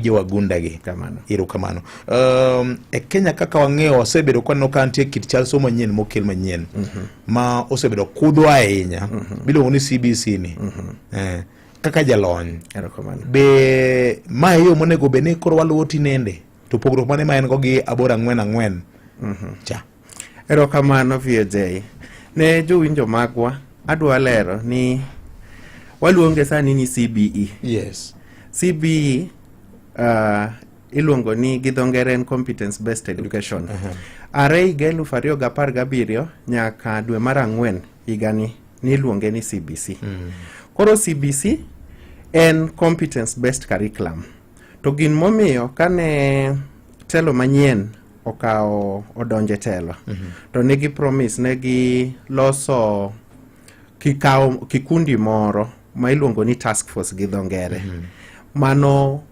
jowagunda gi kamano iro kamano um, e Kenya kaka wang'eyo wasebedo kwaneno ka nitie kit chal somo manyien mokel manyien mm -hmm. ma osebedo kudho ahinya mm -hmm. biluongo ni CBC ni mm -hmm. eh, kaka jalony be ma e yo monego bed ni koro waluwo tinende to pogruok mane ma en go gi aboro ang'wen ang'wen mm -hmm. cha Erokamano VJ. Ne jowinjo magwa, adwa lero ni waluonge sani ni CBE. Yes. CBE uh, iluongo ni gi dho ngere en competence based education. Uh -huh. Are higa eluf ariyo gi apar gabiriyo nyaka dwe mar ang'wen higani niluonge ni CBC. Mm. Koro CBC en competence based curriculum. To gin momiyo kane telo manyien okawo odonje telo mm -hmm. to negi promise negi loso kikawo kikundi moro ma iluongo ni task force gi dho ngere mm -hmm. mano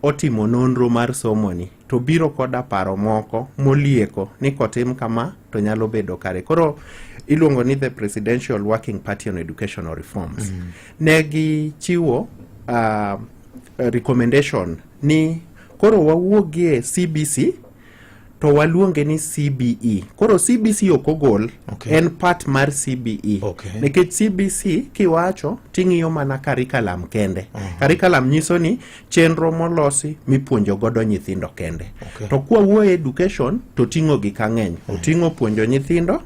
otimo nonro mar somoni to biro koda paro moko molieko ni kotim kama to nyalo bedo kare koro iluongo ni the presidential working party on educational reforms mm -hmm. ne gichiwo uh, eh, recommendation ni koro wawuogie CBC to waluonge ni CBE. Koro CBC ok ogol okay. en part mar CBE okay. nikech CBC kiwacho ting'iyo mana curriculum kende uh -huh. curriculum nyiso ni chenro molosi mipuonjo godo nyithindo kende okay. to kwa wuoyo education to ting'o gik ang'eny uh -huh. oting'o puonjo nyithindo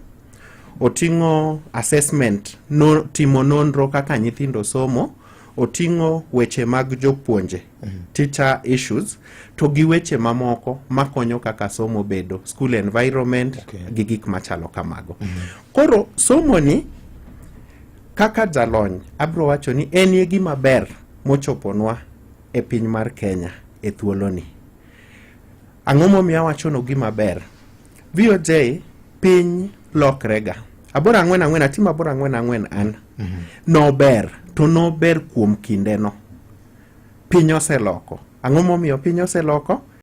oting'o assessment no, timo nonro kaka nyithindo somo oting'o weche mag jopuonje mm -hmm. teacher issues to gi weche mamoko makonyo kaka somo bedo school environment okay. gi gik machalo kamago mm -hmm. koro somoni kaka jalony abro wacho ni en ye gima ber mochoponwa e piny mar kenya e thuoloni ang'o momiyo awachono gima ber VOJ piny lokrega aboro ang'wen ang'wen atimo aboro ang'wen ang'wen an mm -hmm. nober to nober kuom kindeno piny oseloko ang'o momiyo piny oseloko